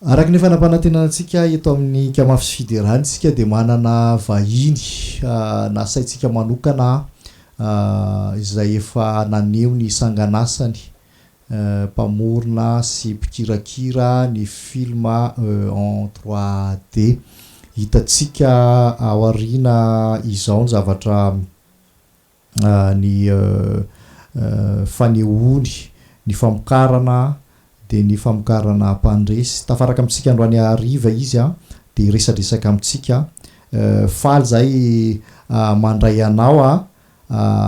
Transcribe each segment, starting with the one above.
Araka ny efa nampanantenana antsika eto amin'ny Kamafy sy Fiderany isika dia manana vahiny nasaintsika manokana izay efa naneho ny sanganasany mpamorona sy mpikirakira ny film en trois D. Hitantsika ao aoriana izao ny zavatra ny fanehoany ny famokarana dia ny famokarana ampandresy tafaraka amintsika androany hariva izy an dia resadresaka amintsika faly zahay mandray anao an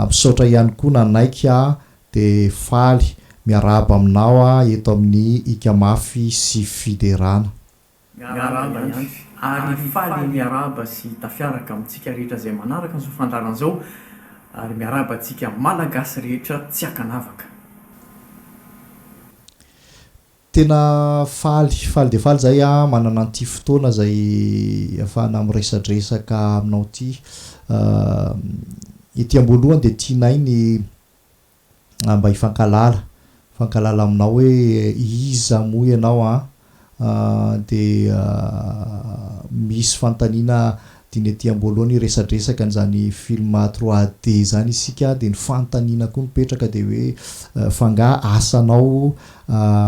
misaotra ihany koa nanaiky an dia faly miarahaba aminao an eto amin'ny ika mafy sy fiderana Miarahaba ihany ary faly miarahaba sy tafiaraka amintsika rehetra izay manaraka an'izao fandaharana izao ary miarahaba antsika Malagasy rehetra tsy ankanavaka. Tena faly, faly dia faly izahay manana an'ity fotoana izay ahafahana miresadresaka aminao ity. Ety am-boalohany dia tianay ny ah mba hifankalala hifankalala aminao hoe iza moa ianao an ah dia misy fanontaniana diny ety amboalohany hiresadresaka an'izany film trois D izany isika dia ny fanontaniana koa mipetraka dia hoe fa nga asanao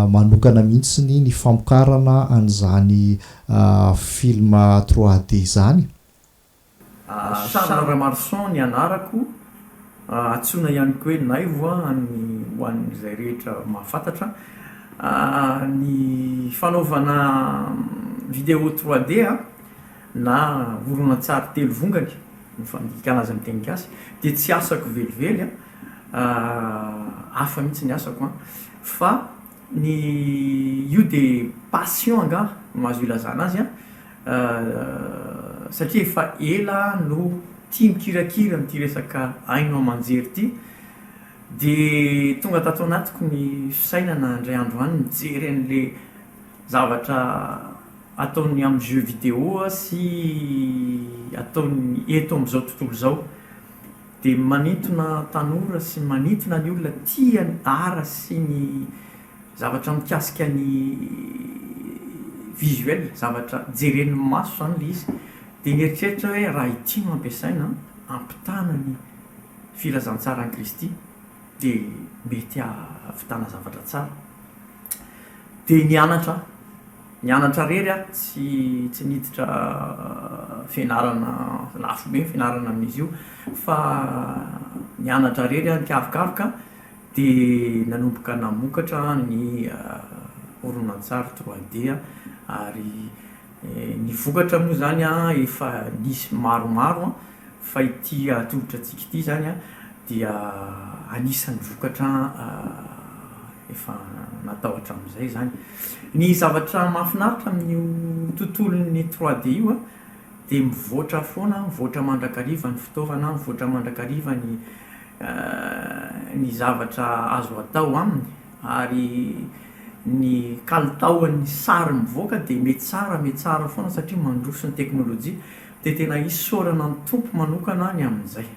manokana mihitsiny ny famokarana an'izany film trois D izany Charles Ramarson ny anarako, antsoina ihany koa hoe Naivo ho an'izay rehetra mahafantatra. Ny fanaovana vidéo trois D na horonantsary telo vongany no fandikana azy amin'ny teny gasy dia tsy asako velively, hafa mihitsy ny asako an! fa ny io dia passion angaha no azo ilazana azy an! Ahh satria efa ela aho no tia mikirakira an'ity resaka haino aman-jery ity dia tonga tato anatiko ny fisainana indray andro any mijery an'ilay zavatra ataony amin'ny jeux vidéo sy ataony eto amin'izao tontolo izao dia manintona tanora sy manintona ny olona tia ny art sy ny Zavatra mikasika ny visuel, zavatra jeren'ny maso izany ilay izy. Dia nieritreritra aho hoe raha ity no ampiasaina hampitana ny filazantsaran'i Kristy dia mety hahavitana zavatra tsara. Dia nianatra aho, nianatra irery aho, tsy niditra fianarana lafo be ny fianarana amin'izy io fa nianatra irery aho nikarokaroka. dia nanomboka namokatra ny horonantsary trois D ary ny vokatra moa izany efa nisy maromaro fa ity atolotra antsika ity izany dia anisan'ny vokatra efa natao hatramin'izay izany. Ny zavatra mahafinaritra amin'io tontolon'ny trois D io a. dia mivoatra foana, mivoatra mandrakariva ny fitaovana, mivoatra mandrakariva ny ny zavatra azo atao aminy, ary ny kalitaon'ny sary mivoaka dia metsara metsara foana satria mandroso ny teknolojia, dia tena isaorana ny Tompo manokana ny amin'izay.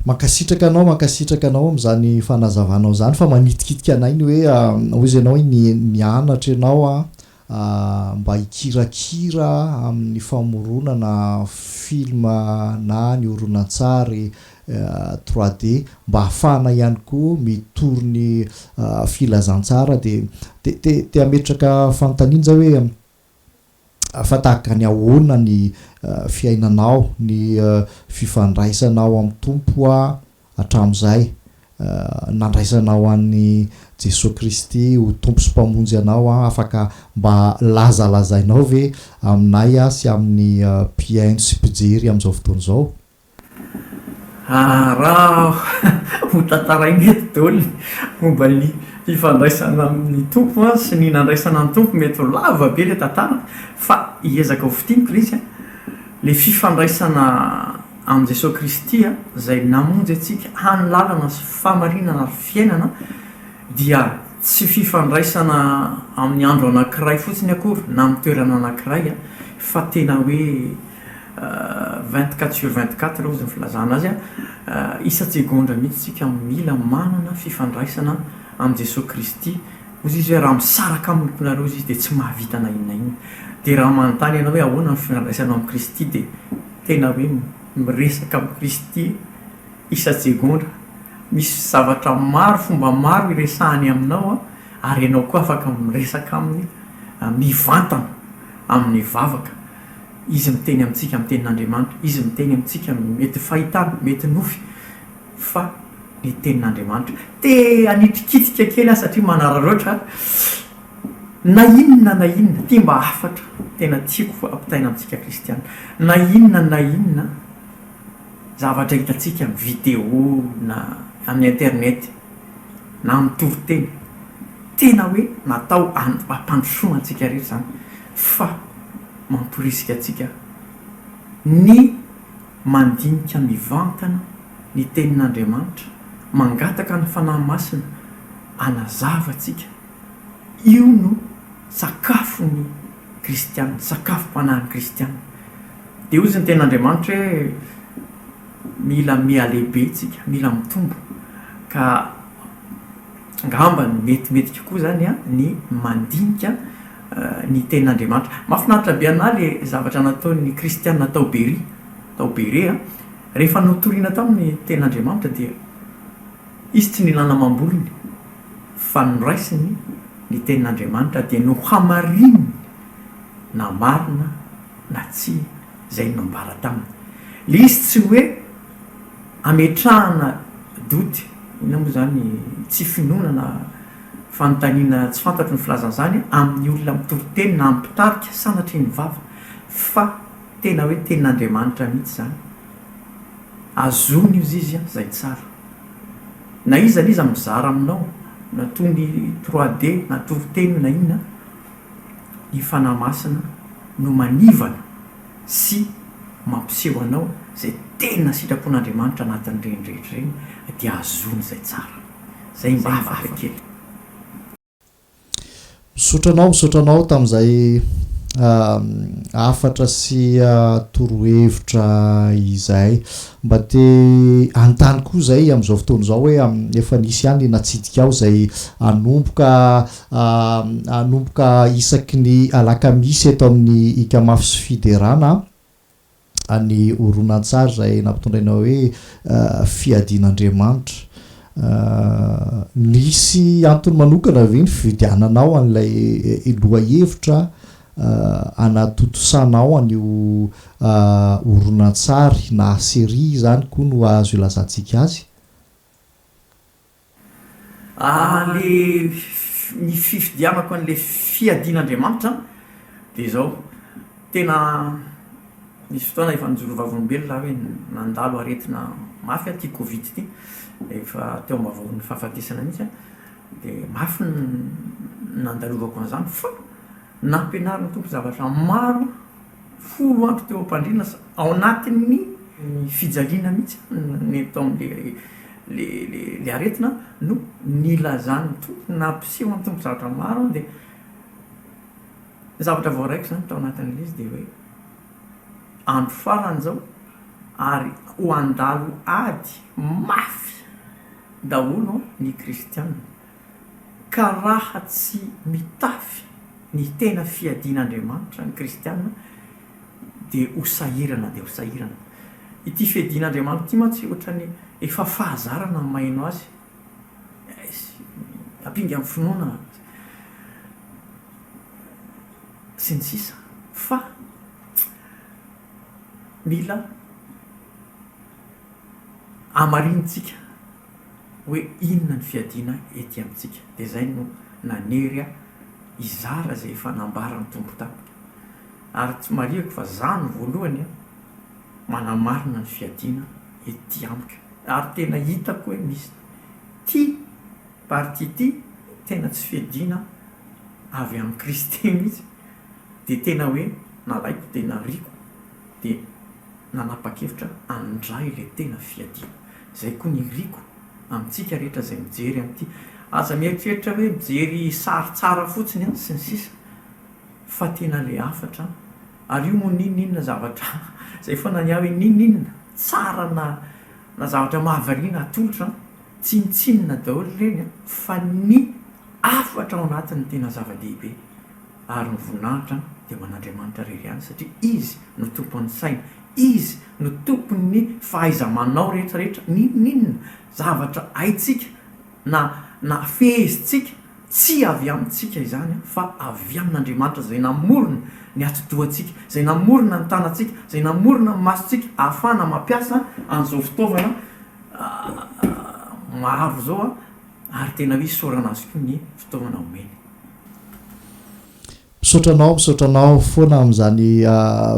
Mankasitraka anao mankasitraka anao amin'izany fanazavanao izany fa manitikitika anay ny hoe hoy izy ianao hoe nianatra ianao mba hikirakira amin'ny famoronana film na ny horonantsary trois D mba hahafahana ihany koa mitory ny filazantsara dia te te te hametraka fanontaniana zay hoe fa tahaka ny ahoana ny fiainanao, ny fifandraisanao amin'ny Tompo hatramin'izay, nandraisanao an'i Jesoa Kristy ho Tompo sy Mpamonjy anao, afaka mba lazalazainao ve aminay sy amin'ny mpihaino sy mpijery amin'izao fotoana izao? Raha hotantaraina eto daholo ny momba ny fifandraisana amin'ny Tompo sy ny nandraisana ny Tompo, mety ho lava be ilay tantara fa hiezaka ho fintiniko ilay izy an. Ilay fifandraisana amin'i Jesoa Kristy izay namonjy antsika hany lalana sy fahamarinana ary fiainana dia tsy fifandraisana amin'ny andro anankiray fotsiny akory na amin'ny toerana anankiray fa tena hoe Vingt-quatre sur vingt-quatre hoy ny filazana azy, isan-tsegondra mihitsy isika no mila manana fifandraisana amin'i Jesoa Kristy. Hoy Izy hoe, raha misaraka amin'ny lokonareo Izy dia tsy mahavita na inona na inona. Dia raha manontany ianao hoe ahoana ny fifandraisanao amin'i Kristy dia tena hoe miresaka amin'i Kristy isan-tsegondra. Misy zavatra maro, fomba maro iresahany aminao ary ianao koa afaka miresaka Aminy mivantana amin'ny vavaka. Izy miteny amintsika amin'ny tenin'Andriamanitra, Izy miteny amintsika mety fahitana, mety nofy, fa ny tenin'Andriamanitra. Te hanitrikitrika kely aho satria manararaotra, na inona na inona, ity mba hafatra tena tiako ampitaina amintsika kristiana, na inona na inona zavatra hitantsika amin'ny video na amin'ny internet na amin'ny toriteny, tena hoe natao hampandrosoana antsika rehetra izany. fa mamporisika antsika ny mandinika mivantana ny Tenin'Andriamanitra, mangataka ny Fanahy Masina hanazava antsika. Io no sakafon'ny kristiana, sakafom-panahin'ny kristiana. Dia hozy ny Tenin'Andriamanitra hoe, Mila mihalehibe tsika, mila mitombo, ka. Angamba ny mety mety kokoa zany a ny mandinika ny tenin'Andriamanitra. Mahafinaritra be anahy le zavatra nataon'ny kristiana tao Beria, tao Bere a, rehefa notorina taminy ny tenin'Andriamanitra dia izy tsy nilana amam-bolony fa noraisiny ny tenin'Andriamanitra dia nohamarininy na marina na tsia izay nambara taminy. Le izy tsy hoe ametrahana doute, inona moa zany, tsy finoana na fanontaniana tsy fantatro ny filazana izany, amin'ny olona mitory teny na amin'ny mpitarika sanatria ny vava, fa tena hoe tenin'Andriamanitra mihitsy izany. Azony ozy izy an, izay tsara. Na iza na iza mizara aminao, na toy ny trois D, na toriteny io na inona, i Fanahy Masina no manivana sy mampiseho anao izay tena sitrapon'Andriamanitra anatin'ireny rehetra ireny dia ahazoana izay tsara. Izay mba afaka kely. Misaotra anao, misaotra anao tamin'izay hafatra sy torohevitra izay. Mba te hanontany koa izay amin'izao fotoana izao hoe efa nisy ihany ilay natsidika aho izay hanomboka Hanomboka isaky ny alakamisy eto amin'ny Ikamafy sy Fiderana ny horonantsary izay nampitondraina hoe Fiadian'Andriamanitra. Nisy antony manokana ve ny fividiananao an'ilay lohahevitra hanatontosanao an'io horonantsary na serie izany koa no azo ilazantsika azy? Ary le ny fifidianako an'ilay fiadian'Andriamanitra dia izao, tena nisy fotoana efa nijoro vavolombelona aho hoe nandalo aretina mafy aho ity covid ity, efa teo am-bavahoan'ny fahafatesana mihitsy aho, dia mafy ny nandalovako an'izany fa nampianarin'ny Tompo zavatra maro Folo andro teo am-pandriana sa ao anatin'ny fijaliana mihitsy ny tao amin'ilay le le le aretina no nilazan'ny Tompo nampisehoan'ny Tompo zavatra maro dia ny zavatra voaraiko izany tao anatin'ilay izy dia hoe andro farany izao ary ho handalo ady mafy daholo ny kristiana Ka raha tsy mitafy ny tena fiadian'Andriamanitra ny kristiana dia ho sahirana dia ho sahirana. Ity fiadian'Andriamanitra ity mantsy ohatran'ny efa fahazarana maino azy. Ampinga amin'ny finoana sy ny sisa fa mila hamarinintsika. hoe inona ny fiadiana ety amintsika. Dia izay no nanery ahy hizara izay efa nambaran'ny Tompo tamiko. Ary tsy marihiko fa izaho no voalohany manamarina ny fiadiana ety amiko. Ary tena hitako hoe misy ity partie ity tena tsy fiadiana avy amin'i Kristy mihitsy. Dia tena hoe nalaiko dia nariako dia nanapa-kevitra handray ilay tena fiadiana. Izay koa ny iriko amintsika rehetra izay mijery an'ity. Aza mieritreritra hoe mijery sary tsara fotsiny an, sy ny sisa fa tena ilay hafatra an. Ary io moa n'inon'inona zavatra izay foana ny ahy hoe n'inon'inona tsara na na zavatra mahavariana atolotra an, tsinontsinona daholo ireny an, fa ny hafatra ao anatiny no tena zava-dehibe. ary ny voninahitra dia ho an'Andriamanitra irery ihany satria Izy no tompon'ny saina, Izy no tompon'ny fahaiza-manao rehetra rehetra, n'inon'inona zavatra haintsika na na fehezintsika tsy avy amintsika izany fa avy amin'Andriamanitra izay namorona ny atidohantsika, izay namorona ny tanantsika, izay namorona ny masontsika ahafahana mampiasa an'izao fitaovana maro izao. Ary tena hoe isaorana azy koa ny fotoana omeny. Misaotra anao, misaotra anao foana amin'izany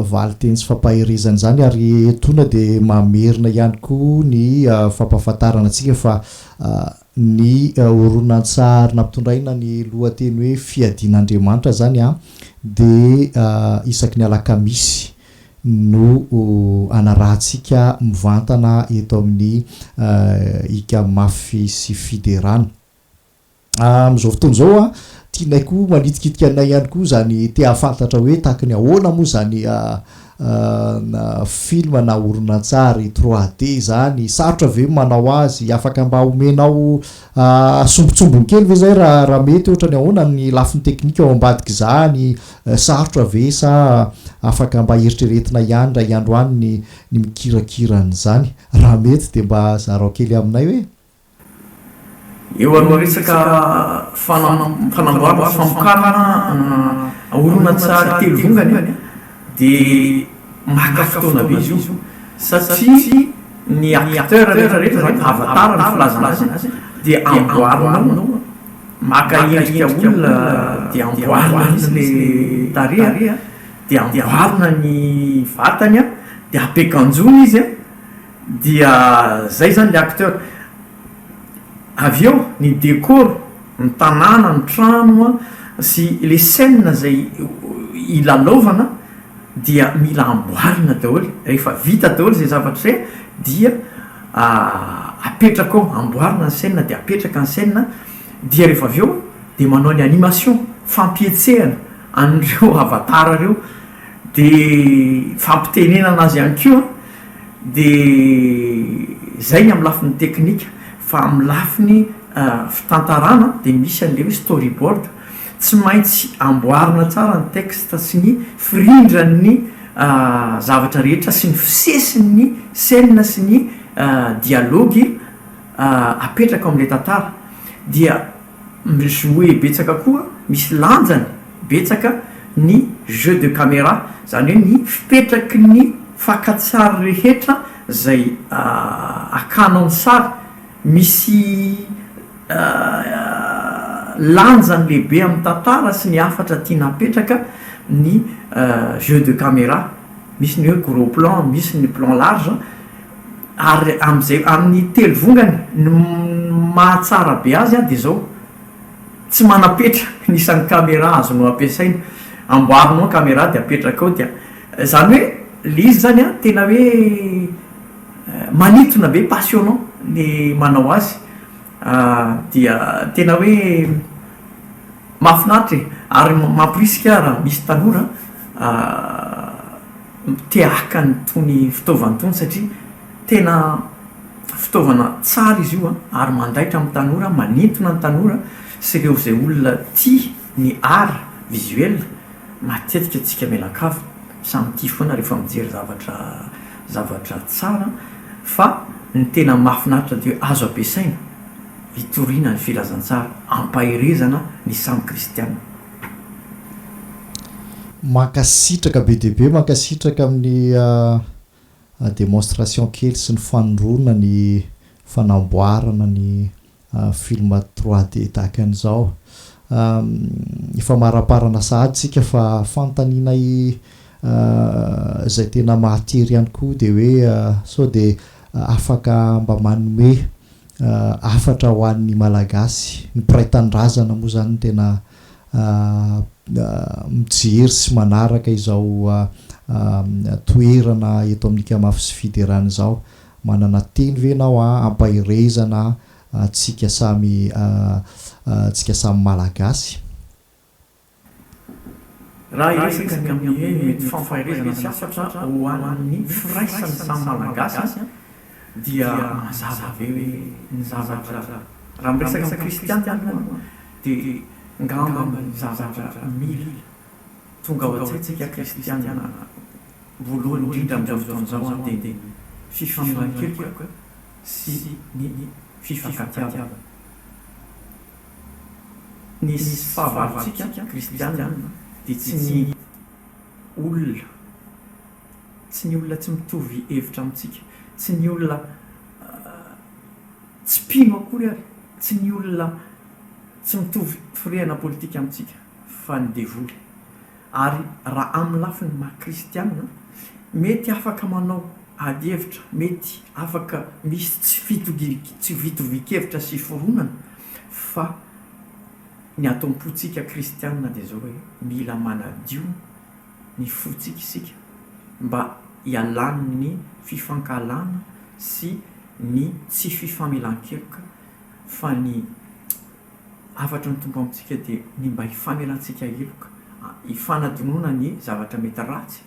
valinteny sy fampaherezana izany ary etoana dia mamerina ihany koa ny fampahafantarana antsika fa ny horonantsary nampitondraina ny lohateny hoe Fiadian'Andriamanitra izany dia isaky ny alakamisy no anarahantsika mivantana eto amin'ny ika mafy sy fiderana. Amin'izao fotoana izao, tianay koa manitikitika anay ihany koa izany te hahafantatra hoe tahaka ny ahoana moa izany film na horonantsary 3D izany, sarotra ve ny manao azy, afaka mba omenao Asombintsombiny kely ve izay raha raha mety ohatra ny ahoana ny lafiny teknika ao ambadik'izany? Sarotra ve sa afaka mba eritreretina ihany indray andro any ny ny mikirakira an'izany? Raha mety dia mba zarao kely aminay hoe. Eo aloha resaka fanam- fanamboarana sy famokarana ana horonantsary telo vongana e. Dia maka fotoana be izy io satria ny acteurs rehetra rehetra zany avatar ny filazana azy dia amboarinao maka endrika olona dia amboarina mihitsy le tarehy a, dia amboarina ny vatany a, dia apekanjono izy a, dia zay zany le acteur. Avy eo ny decor, ny tanàna, ny trano sy le scène izay hilalaovana dia mila amboarina daholo, rehefa vita daholo izay zavatra izay dia apetraka ao, amboarina ny scène dia apetraka ny scène dia rehefa avy eo dia manao ny animation, fampihetsehana an'ireo avatar ireo dia fampitenenana azy ihany koa. Dia izay ny amin'ny lafiny teknika fa amin'ny lafiny fitantarana dia misy an'ilay hoe storyboard, tsy maintsy amboarina tsara ny texte sy ny firindran'ny zavatra rehetra sy ny fisesin'ny scène sy ny dialogue. apetraka ao amin'ilay tantara dia mi-jouer betsaka koa, misy lanjany betsaka ny jeu de camera, zany hoe ny fipetraky ny fakan-tsary rehetra zay akanao ny sary, misy lanjany lehibe amin'ny tantara sy ny hafatra tiana apetraka ny jeu de camera, misy ny hoe gros plan, misy ny plan large. Ary amin'izay, amin'ny telo vongany, ny mahatsara be azy dia izao, tsy manam-petra ny isan'ny camera azonao ampiasaina. Amboarinao ny camera dia apetraka ao dia, izany hoe ilay izy izany an, tena hoe manintona be, passionnant ny manao azy, dia tena hoe mahafinaritra e! Ary mampirisika raha misy tanora miteaka itony fitaovana itony satria tena fitaovana tsara izy io ary mandaitra amin'ny tanora, manintona ny tanora sy ireo izay olona tia ny art visuel, matetika antsika mianakavy samy tia foana rehefa mijery zavatra zavatra tsara fa ny tena mahafinaritra dia hoe azo ampiasaina hitoriana ny filazantsara, hampaherezana ny samy kristiana. Mankasitraka be dia be, mankasitraka amin'ny demonstration kely sy ny fanondroana ny fanamboarana ny film trois D tahaka an'izao. Ifamariparana sahady isika fa fanontaniana izay tena mahatery ihany koa dia hoe sao dia afaka mba manome hafatra ho an'ny Malagasy. Ny mpiray tanindrazana moa izany no tena mijery sy manaraka izao toerana eto amin'ny Ikamafy sy Fiderana izao. Manana teny ve ianao hampaherezana antsika samy antsika samy Malagasy? Raha hiresaka ny amin'ny mety fampaherezana sy hafatra ho an'ny firaisan'ny samy Malagasy dia mazava be hoe ny zavatra, raha miresaka amin'ny kristiana aloha dia ngamba ny zavatra mila tonga ao an-tsaintsika kristiana voalohany indrindra amin'izao fotoana izao dia ny fifanolan-keloka sy ny fifankatiavana. ny fahavalontsika kristiana dia tsy ny olona, tsy ny olona tsy mitovy hevitra amintsika, tsy ny olona tsy mpino akory ary, tsy ny olona tsy mitovy firehana politika amintsika fa ny devoly. Ary raha amin'ny lafiny maha kristiana, mety afaka manao ady hevitra, mety afaka misy tsy fitovian-kevitra sy fironana, fa ny ato am-pontsika kristiana dia izao hoe, mila manadio ny fontsika isika mba hialan'ny fifankahalana sy ny tsy fifamelan-keloka fa ny Hafatry ny Tompo amintsika dia ny mba hifamelantsika heloka, hifanadinoana ny zavatra mety ratsy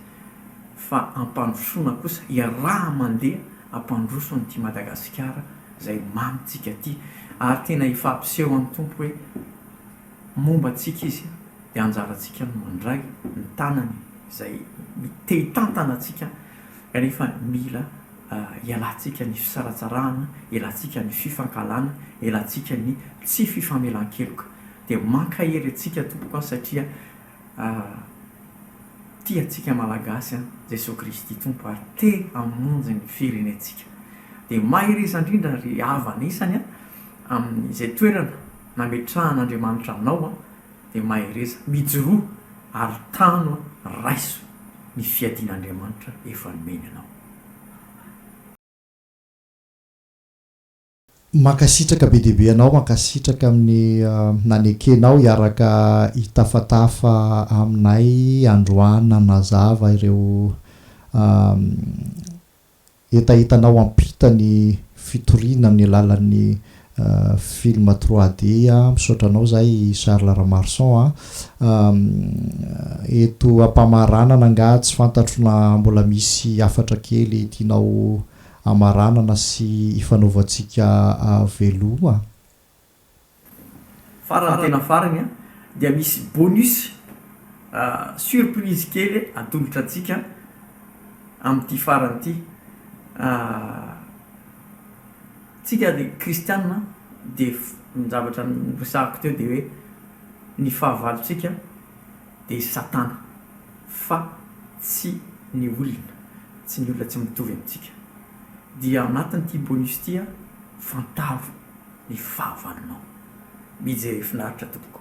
fa hampandrosoana kosa, hiaraha-mandeha hampandroso an'ity Madagasikara izay mamintsika ity. Ary tena efa hampiseho amin'ny Tompo hoe momba antsika Izy dia anjarantsika ny mandray ny tanany izay te-hitantana antsika kanefa mila Ialantsika ny fisaratsarahana, ialantsika ny fifankahalana, ialantsika ny tsy fifamelan-keloka. Dia mankahery antsika tompoko an satria tia antsika Malagasy an Jesoa Kristy Tompo ary te hamonjy ny firenentsika. Dia mahereza indrindra ry havana isany an amin'izay toerana nametrahan'Andriamanitra anao an, dia mahereza, mijoroa ary tano an, raiso ny fiadian'Andriamanitra efa nomeny anao. Mankasitraka be dia be anao, mankasitraka amin'ny nanekenao hiaraka hitafatafa aminay androany nanazava ireo hetahetanao hampita ny fitoriana amin'ny alalan'ny Film trois D a! Misaotra anao zay Charles Ramarson a! Eto ampamaranana nga tsy fantatro na mbola misy hafatra kely tianao hamaranana sy hifanaovantsika veloma? Farany tena farany a! Dia misy bonus surprise kely atolotra antsika amin'ity farany ity. Tsika ry kristianina dia ny zavatra niresahako teo dia hoe ny fahavalontsika dia i satana fa tsy ny olona, tsy ny olona tsy mitovy amintsika. Dia ao anatin'ity bonus ity aho fantaro ny fahavalonao. Mijery finaritra tompoko.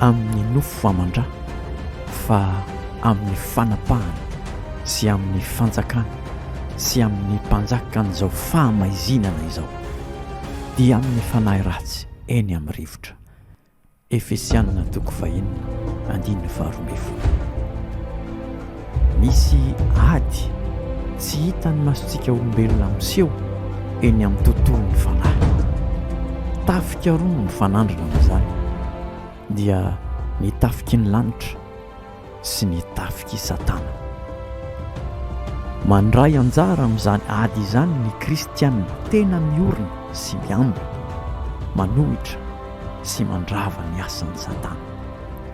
Amin'ny nofo aman-dra, fa amin'ny fanapahana sy amin'ny fanjakana sy amin'ny mpanjakan'izao fahamaizinana izao, dia amin'ny fanahy ratsy eny amin'ny rivotra. Efesianina toko fahenina andininy faharoa ambin'ny folo. Misy ady tsy hitan'ny masontsika olombelona miseho eny amin'ny tontolon'ny fanahy. Tafika roa no mifanandrina amin'izany, dia ny tafiky ny lanitra sy ny tafik'i Satana. Mandray anjara amin'izany ady izany ny kristiana tena miorina sy miambina, manohitra sy mandrava ny asan'i Satana.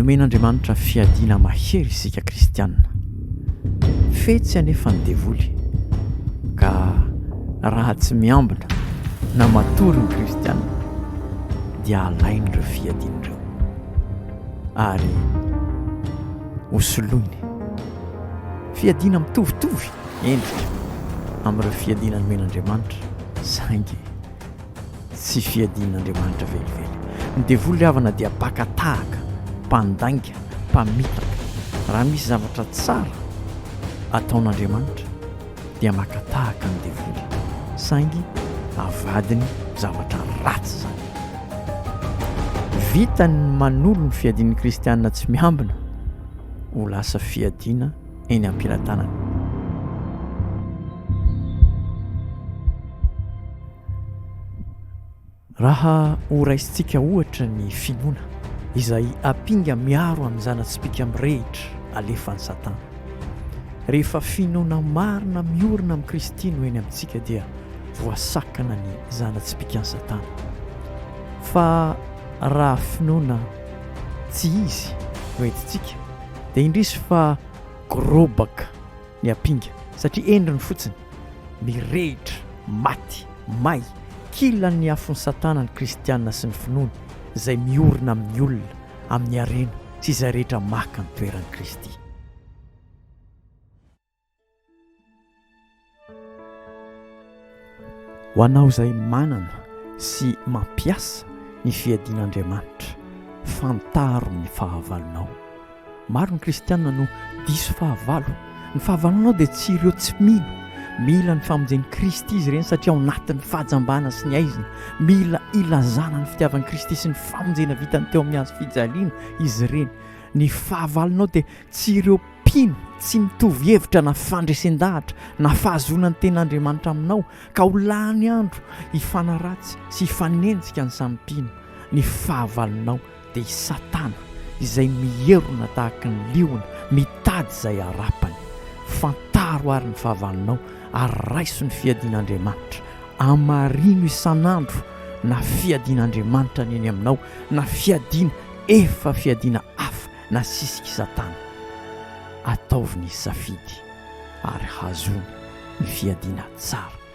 Nomen'Andriamanitra fiadiana mahery isika kristiana. Fetsy anefa ny devoly ka raha tsy miambina na matory ny kristiana, dia alainy ireo fiadiana ireo ary hosoloiny fiadiana mitovitovy endrika amin'ireo fiadiana nomen'Andriamanitra saingy tsy fiadian'Andriamanitra velively. Ny devoly havana dia baka tahaka, mpandainga, mpamitaka. Raha misy zavatra tsara ataon'Andriamanitra dia maka tahaka ny devoly, saingy avadiny zavatra ratsy izany. Vitany ny manolo ny fiadian'ny kristiana tsy miambina ho lasa fiadiana eny am-pelatanana. Raha horaisintsika ohatra ny finoana izay ampinga miaro an'ny zana-tsipìka mirehitra alefan'i Satana. Rehefa finoana marina miorina amin'i Kristy no eny amintsika dia voasakana ny zana-tsipìkan'i Satana. Fa raha finoana tsy izy no entintsika dia indrisy fa gorobaka ny ampinga satria endriny fotsiny. Mirehitra, maty, may, kilan'ny afon'i Satana ny kristiana sy ny finoany izay miorina amin'ny olona, amin'ny harena sy izay rehetra maka ny toeran'i Kristy. Ho anao izay manana sy mampiasa ny fiadian'Andriamanitra, fantaro ny fahavalonao. Maro ny kristiana no diso fahavalo. Ny fahavalonao dia tsy ireo tsy mino. Mila ny famonjen'i Kristy izy ireny satria ao anatin'ny fahajambana sy ny haizina. Mila ilazana ny fitiavan'i Kristy sy ny famonjena vitany teo amin'ny hazofijaliana izy ireny. Ny fahavalonao dia tsy ireo mpino tsy mitovy hevitra na fandresen-dahatra na fahazoana ny tenin'Andriamanitra aminao ka ho lany andro hifanaratsy sy hifanenjika ny samy mpino ny fahavalonao. dia i Satana izay mierona tahaka ny liona mitady izay harapany. Fantaro àry ny fahavalonao ary raiso ny fiadian'Andriamanitra. Hamarino isan'andro na fiadian'Andriamanitra ny eny aminao na fiadiana efa fiadiana hafa nasisik'i Satana. Ataovy ny safidy ary hazoany ny fiadiana tsara.